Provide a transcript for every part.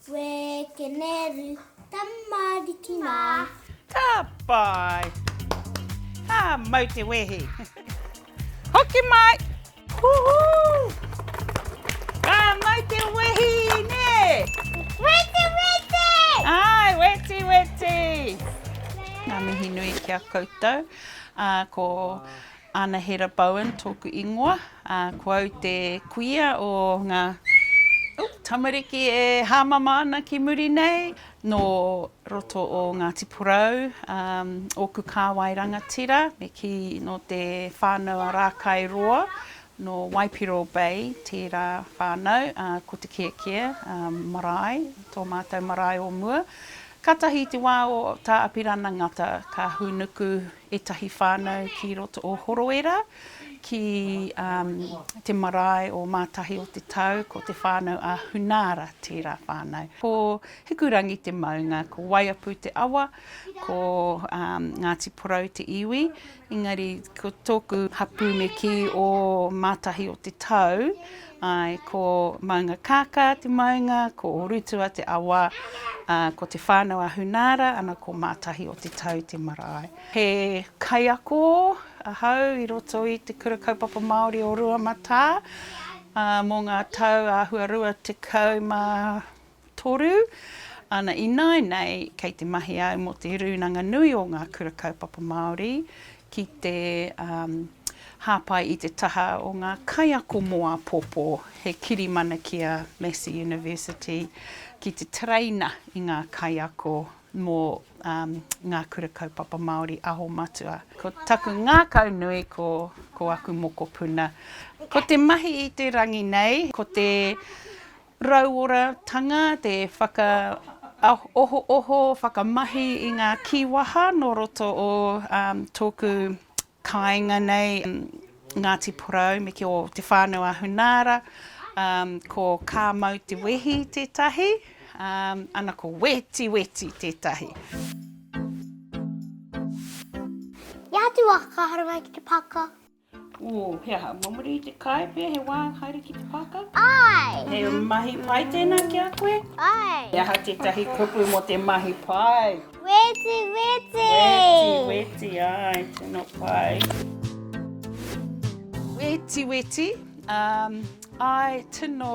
Wēkeneru tamariki mā. Ka pai! Ka mau te wehi! Hoki mai! Huhu! Ka mau te wehi, nē? Weti weti! Āe, weti weti! Ngā mihi nui ki a koutou. Ā, ko Anahera Bowen tōku ingoa, ko au te kuia o ngā tamariki e hāmama ana ki muri nei, nō roto o Ngāti Porou, ōku kāwai rangatira, me kī nō te whānau a Rākai Roa, nō Waipiro Bay tērā whānau, ko Te Kiakia marae, tō mātou marae o mua. Kātahi i te wā o Tā Apirana Ngata ka hūnuku ētahi whānau ki roto o Horoera, ki te marae o Mātahi o te Tau, ko te whānau a Hunaara tērā whānau. Ko Hikurangi te maunga, ko Waiapu te awa, ko Ngāti Porou te iwi, engari ko tōku hapū me kī o Mātahi o te Tau, Āe, ko Maunga Kākā te maunga, ko Ōrutua te awa, ā, ko Te Whānau-a-Hunaara, ana ko Mātahi o te Tau te marae. He kaiako ahau i roto i Te Kura Kaupapa Māori o Ruamatā, ā, mō ngā tau āhua rua tekau mā toru, ana ināinei kei te mahi au mō te Rūnanga Nui o Ngā Kura Kaupapa Māori ki te hāpai i te taha o ngā kaiako mō āpōpō, he kirimana ki a Massey University ki te tereina i ngā kaiako mō Ngā Kura Kaupapa Māori Aho Matua. Ko taku ngākau nui ko ko aku mokopuna, ko te mahi i te rangi nei, ko te. Rauoratanga, te whakaohooho, whakamahi i ngā kīwaha nō roto o tōku kāinga nei, Ngāti Porou me ki o Te Whānau a Hunaara, ko Kā Mau Te Wehi tētahi, ana ko Wetiweti tētahi. Ia atu waka ka haere mai ki te pāka. Ū, he aha? Mō muri i te kai pea he wā haere ki te pākau? Āe! He mahi pai tēnā ki a koe? Āe! He aha tētahi kupu mō te mahi pai? Weti weti! Weti weti, āe, tino pai. Weti weti, āe, tino.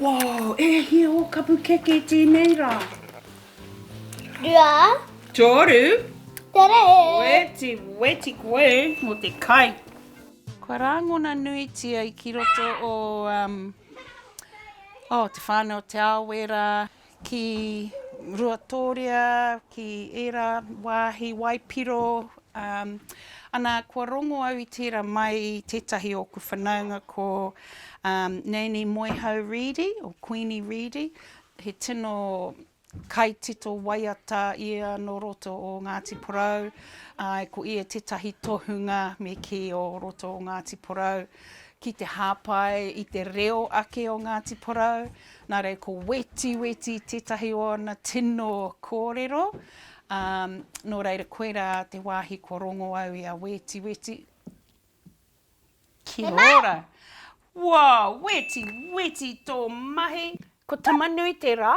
Woo! E hia o kapu keke tenei ra! Rua. Toru. Tere! Weti, weti koe mo te kai. Kua rāngona nuitia i ki roto o, um, oh, te whānau o Te Aowera. ki Ruatōria, ki ērā wāhi waipiro, ā, ana, kua rongo au i tērā mai i tētahi o ōku whanaunga ko, ā, Nanny Moehau Reedy, or Queenie Reedy, he tino kaitito waiata ia nō roto o Ngāti Porou, āe, ko ia tētahi tohunga me kī o roto o Ngāti Porou ki te hāpai i te reo ake o Ngāti Porou, Nā reira, ko Wetiweti tētahi o ana tino kōrero. Ā, nō reira, koirā te wāhi kua rongo au i a Wetiweti. Kia ora! Wow! Wetiweti tō mahi! Ko Tamanui te rā.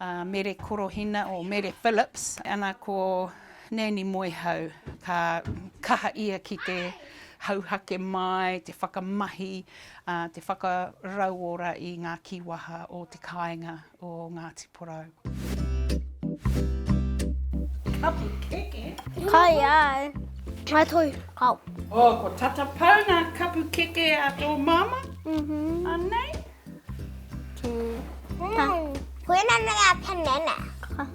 a Mere Korohina or Mere Phillips ana ko Nanny Moehau ka kaha ia ki te hauhake mai, te whakamahi, a, te whakarauora i nga kiwaha o te kainga o Ngati Porou. Kapu keke. Kai ai. Kai toi. Kau. Oh, ko tata pau nga kapu keke a to mama. Mhm. Anei. Koinana ngā panana.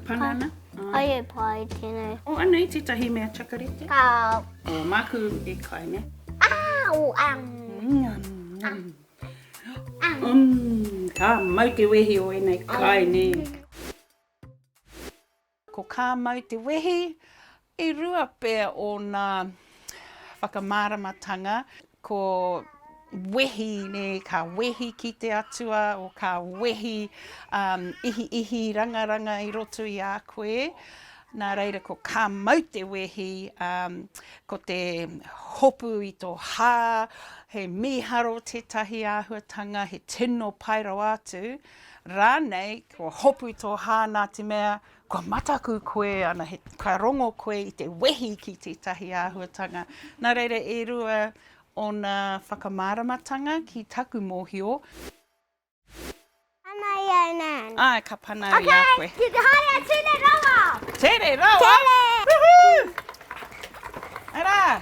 Panana? Ai e pai tēnei. O, anei tētahi mea chakarete. Kāo. O, māku e kai, ne? Au, am. Am. Am. Am. Ka mau te wehi o ēnei kai, ne? Ko Kā Mau Te Wehi, i rua pea ōna whakamāramatanga, ko wehi, nē, ka wehi ki te Atua, or ka wehi ihiihi rangaranga i roto i a koe, nā reira ko Kā Mau Te Wehi, ko te hopu i tō hā, he mīharo tētahi āhuatanga, he tino pai rawa atu. Rānei, kua hopu tō hāna te mea, kua mataku koe ana, he, ka rongo koe i te wehi ki tētahi āhuatanga. Nā reira, e rua ōna whakamāramatanga ki taku mōhio. Pana i au nāna. Āe, ka pana au i a koe. Okay, you can hire a tere rawa! Tere rawa? Tere! Woohoo! Arā!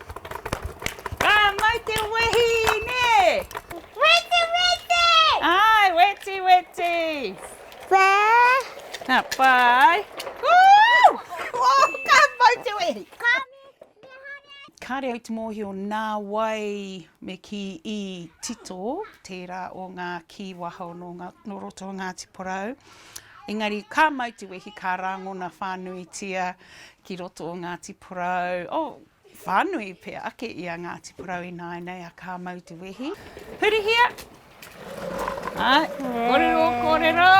Ka mai te wehi, nē! Weti, weti! Āe, weti, weti! Pā! Nā, pai! Woo! Oh, ka mau te wehi! Kāre au te mōhio nā wai me kī i tito tērā o ngā kī wahao nō ngā, nō roto o Ngāti Porou. Engari ka mau te wehi, ka rāngona whānuitia ki roto o Ngāti Porou. Oh, Whānui pea ake i a Ngāti Porou ināianei a Kāmau Te Wehi. Hurihia! Ai, kōrero, kōrero!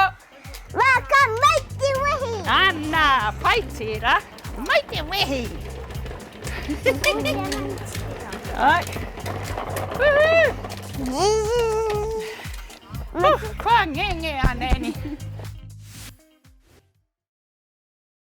Mā Kāmau Te Wehi! Ana, pai tērā! Mai te wehi! Ai! Woohoo! Kua ngenge a Nanny!